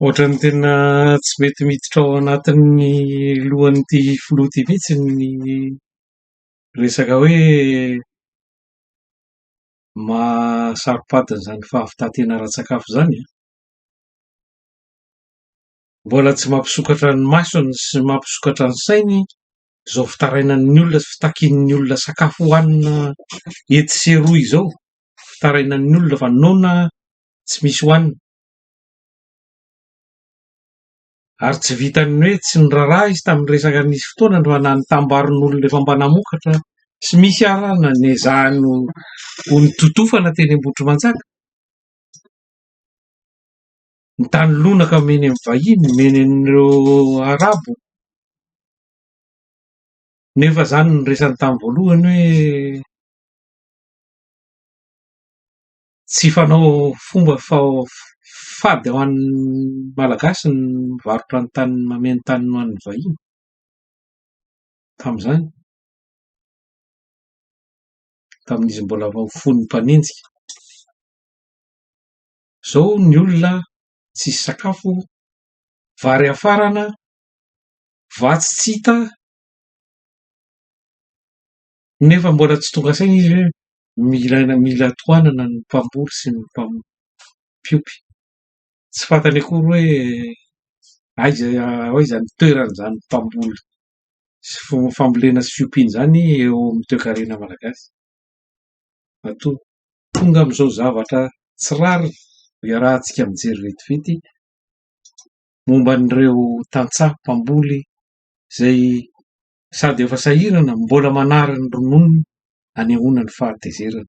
Ohatran'ny tena tsy mety miditra ao anatin'ny lohan'ity filoha ity mihitsy ny resaka hoe maha saropady an'izany fahavitantena ara-tsakafo izany an! Mbola tsy mampisokatra ny masony sy mampisokatra ny sainy izao fitarainan'ny olona sy fitakian'ny olona sakafo hohanina etsy sy eroa izao, fitarainan'ny olona fa noana tsy misy hohanina. Ary tsy vitan'ny hoe tsy niraharaha izy tamin'ny resaka nisy fotoana androany na ny tambarin'olona efa mba namokatra tsy misy ara na nezahany ho nitotofana teny Ambohitrimanjaka. Ny tany lonaka omeny amin'ny vahiny, omeny an'ireo Arabo. Nefa izany no niresany tamin'ny voalohany hoe. Tsy fanao fomba fady ho an'ny Malagasy ny mivarotra ny tany mameno tany ho an'ny vahiny tamin'izany, tamin'izy mbola vao fony mpanenjika. Izao ny olona tsisy sakafo, vary hafarana, vatsy tsy hita. Nefa mbola tsy tonga saina izy hoe mila mila tohanana ny mpamboly sy ny mpiompy. Tsy fantany akory hoe aiza aiza ny toeran'izany mpamboly sy fambolena sy fiompiana izany eo amin'ny toekarena malagasy. Matoa tonga amin'izao zavatra tsy rariny iarahantsika mijery vetivety momba an'ireo tantsaha mpamboly izay sady efa sahirana mbola manary ny rononony anehoana ny fahatezerany.